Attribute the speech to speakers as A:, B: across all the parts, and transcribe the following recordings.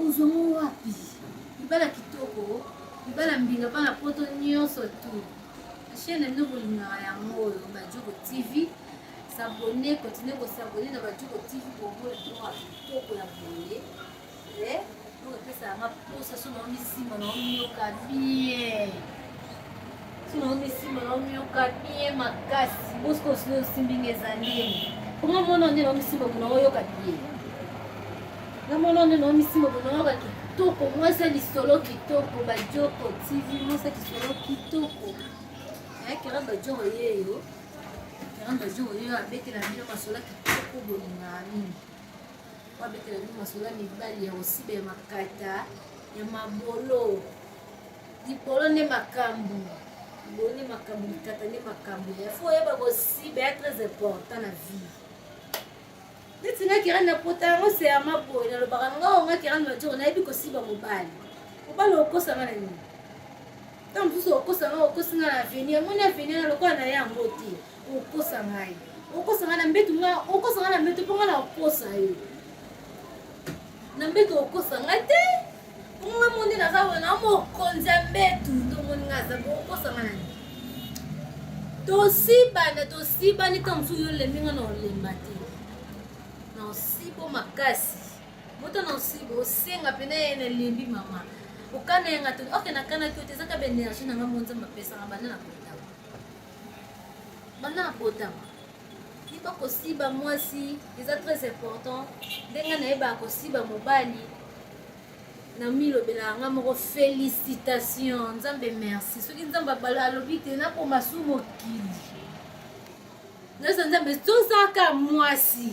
A: Ozomo wapi? Libala kitoko, libala mbinga bana poto nyonso tu. Chaîne nde bolingaka yango oyo Badjoko TV. S'abonner, continuer ko s'abonner na Badjoko TV pour voir droit kitoko ya boye. Eh, donc pesa nga posa so na misi mo na yoka bien. kitoko mwasi ya lisolo kitoko bajoko tv mwasi ya lisolo kitoko ayakela bajoko yeyo kela bajoko yeyo abetela bino masola kitoko bolinga mingi po abetela bino masola mibali ya kosiba ya makata ya mabolo Libolo nde makambu. Libolo nde makambu, likata nde makambu. Il faut oyeba kosiba ya très important na vie. Neti nga kirani na pota yango se ya maboye nalobaka nga o nga kirani majoro nayebi kosiba mobali. Mobali okosa nga na nini? Ntango mosusu okosa nga okosi nga na avenir, omoni avenir na lokola na ye yango te. Okosa ngai. Okosa nga na mbetu nga, okosa nga na mbetu mpo nga na okosa yo. na mbeto okosa nga te bongo nga moni naza boye na mokonzi ya mbetu tomoni nga aza bokosa nga nani tosibana tosibani ntango mosusu yolembi nga na olemba te na osibo makasi moto na osibo osenga mpena ye na elembi mama okana yanga te oke nakanaki yo te ezaka baenergie na nga monzambe apesaka banda na kotama banda na kotama Yeba kosiba mwasi eza très important ndenge nayebaka kosiba mobali na milobelaka nga moko félicitation nzambe merci soki nzambe alobi te nakoma su mokili naza nzambe tozaka mwasi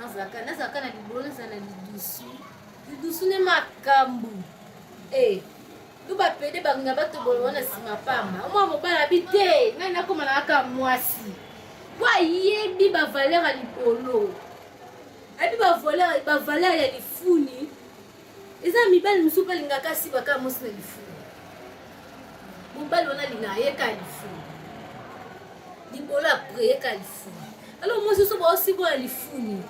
A: nazalaka nazalaka na libolo nazala na lidusu lidusu ne makambo e to bapede balinga batobola wana nsima pamba omwa mobala bi te ngai nakoma na kaka mwasi mpo ayebi bavaleur ya libolo ayebi bavaleur ya lifuni eza mibali mosusu mpe alingaka asiba kaka mwasi na lifumu mobali wana alingaka ye kaka lifumu libolo apre ye kaka lifumu alo mwasi oso baosiba na lifumu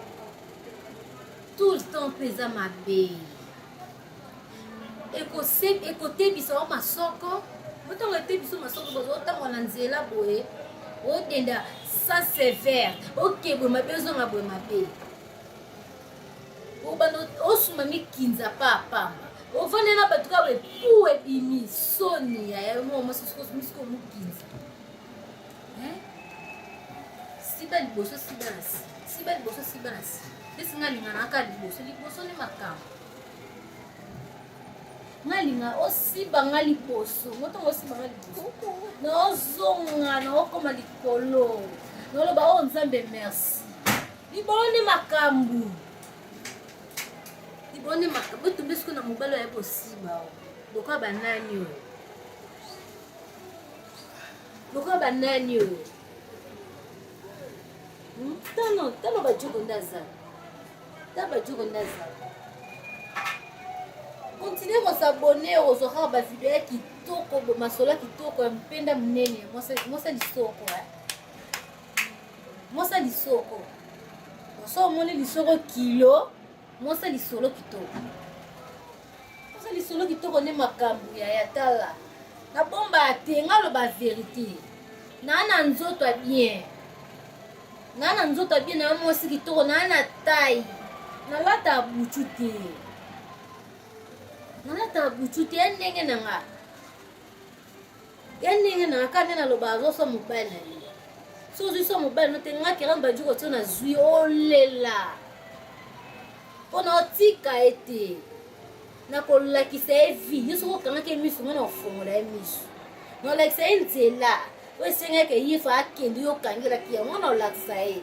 A: tout le temps mpe eza mabe ekotebisa wa masoko otango etebiso masoko bozo otango na nzela boye odenda sans sévère okebwe mabe ozonga boye mabe obanda osumba mikinza pa pamba ofandi na bato kaka epu ebimi soni ya yango mosusukosumisiko mokinza siba liboso siba na si siba liboso siba na si esi nga linga naka liboso liboso ni makambo nga linga osiba nga liboso motongo osiba nga liboso naozonga naokoma likolo noloba oyo oh, nzambe merci liboni makambo liboni makambo etumbi siko na mobali oya kosiba lokola banani oyo lokola banani oyo hmm? tano tano bajoko nde azala ta bajoko nde azala kontinue kosabone ozwa kaka bavideo ya kitoko masolo ya kitoko ya mpenda monene mwasa lisoko eh? mosa lisoko mosa omoni lisoko kilo mosa lisolo kitoko mosa lisolo kitoko nde makambo ya yatala nabombaka te nga loba verité naa na nzoto ya bien naa na nzoto ya bien naa mwasi kitoko naa na tai nalata butu te nalata butu te ya ndenge na nga ya ndenge na aka nde naloba azoso mobali na ye so ozwi so mobali no te nga keran bandi kotio nazwi olela mpo na otika ye te nakolakisa ye vi yo soki okangaki ye miso nga na kofongola ye miso nakolakisa ye nzela oyo esengaki ye fa akende yo okangelaki yango na olakisa ye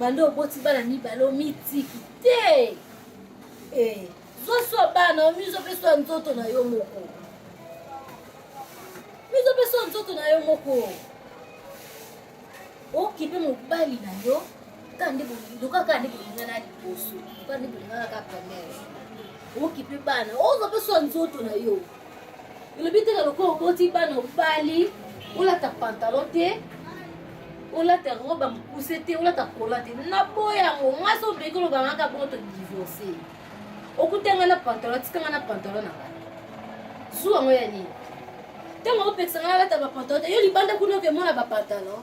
A: banda oboti bana mibale omitiki te eh, zoswa bana omizo mpe swa nzoto na yo moko mizo mpe swa nzoto na yo moko okipe mobali na yo kaka nde bolindoka kaka nde bolingana liboso kaka nde bolingana kaka primaire okipe bana ozo mpe swa nzoto na yo olobi teka lokola oboti bana obali olata pantalon te olata yango bamokuse te olata kola te naboya yango ngai so obeki oloba ngai kaka bongo todivorce okuta ngai na pantalon atika ngai na pantalon na ngai zuwa yango ya nini ntango opekisa ngai alata bapantalon te yo libanda kuna okemona bapantalon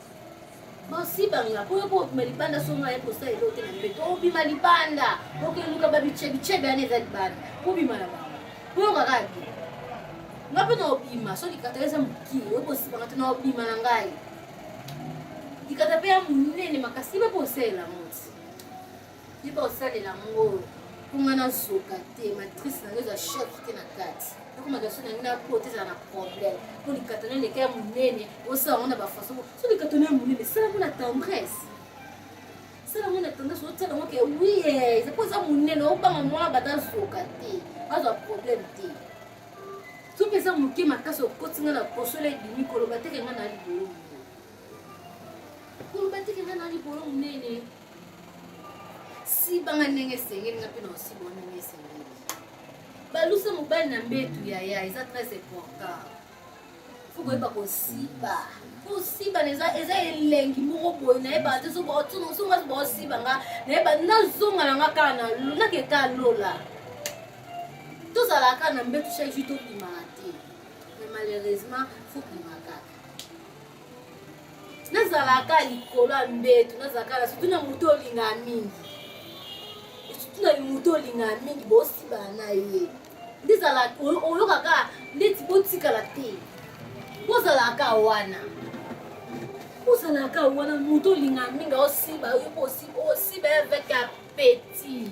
A: basibanga po yoko obima libanda so ngai kosa elo te na mbeto obima libanda okeluka babicebicebi ana eza libanda obima na bango po yoka kaka te nga mpe na obima so likata eza moki okosibanga te na obima na ngai likata mpe ya monene makasi mpe kosela yango Yeba osalela ngo kunga na zoka te matrice na yo eza choc te na kati nakoma gaso na ngai na po te ezala na problème mpo likata na leka ya monene osala yango na bafaçon so likata na ya monene sala yango na tendresse sala yango na tendresse otyala yango ke wi eza mpo eza monene obanga mwana bata zoka te azwa problème te soki eza moke makasi okoti ngai na poso la ebimi koloba teke ngai na libolo koloba teke nga na likolo monene sibanga ndenge esengeli nga mpe na osibwa ndenge esengeli balusa mobali na mbetu yaya eza très important fo koyeba kosiba kosiba eza elengi moko boye nayebaka te songa bosiba nga nayeba nazonga na nga kaka na nake kaka lola tozalaka na mbetu chaque jour tobimaka te mais malheureusement fo bimaka te nazalaka likolo ya mbeto nazalaka na sutu na moto olingaka mingi sutu na moto olingaka mingi bosibana na ye nde ezalaka oyokaka ndeti botikala te bozalaka wana ozalaka wana moto olingaka mingi osiba yo osiba avec appetit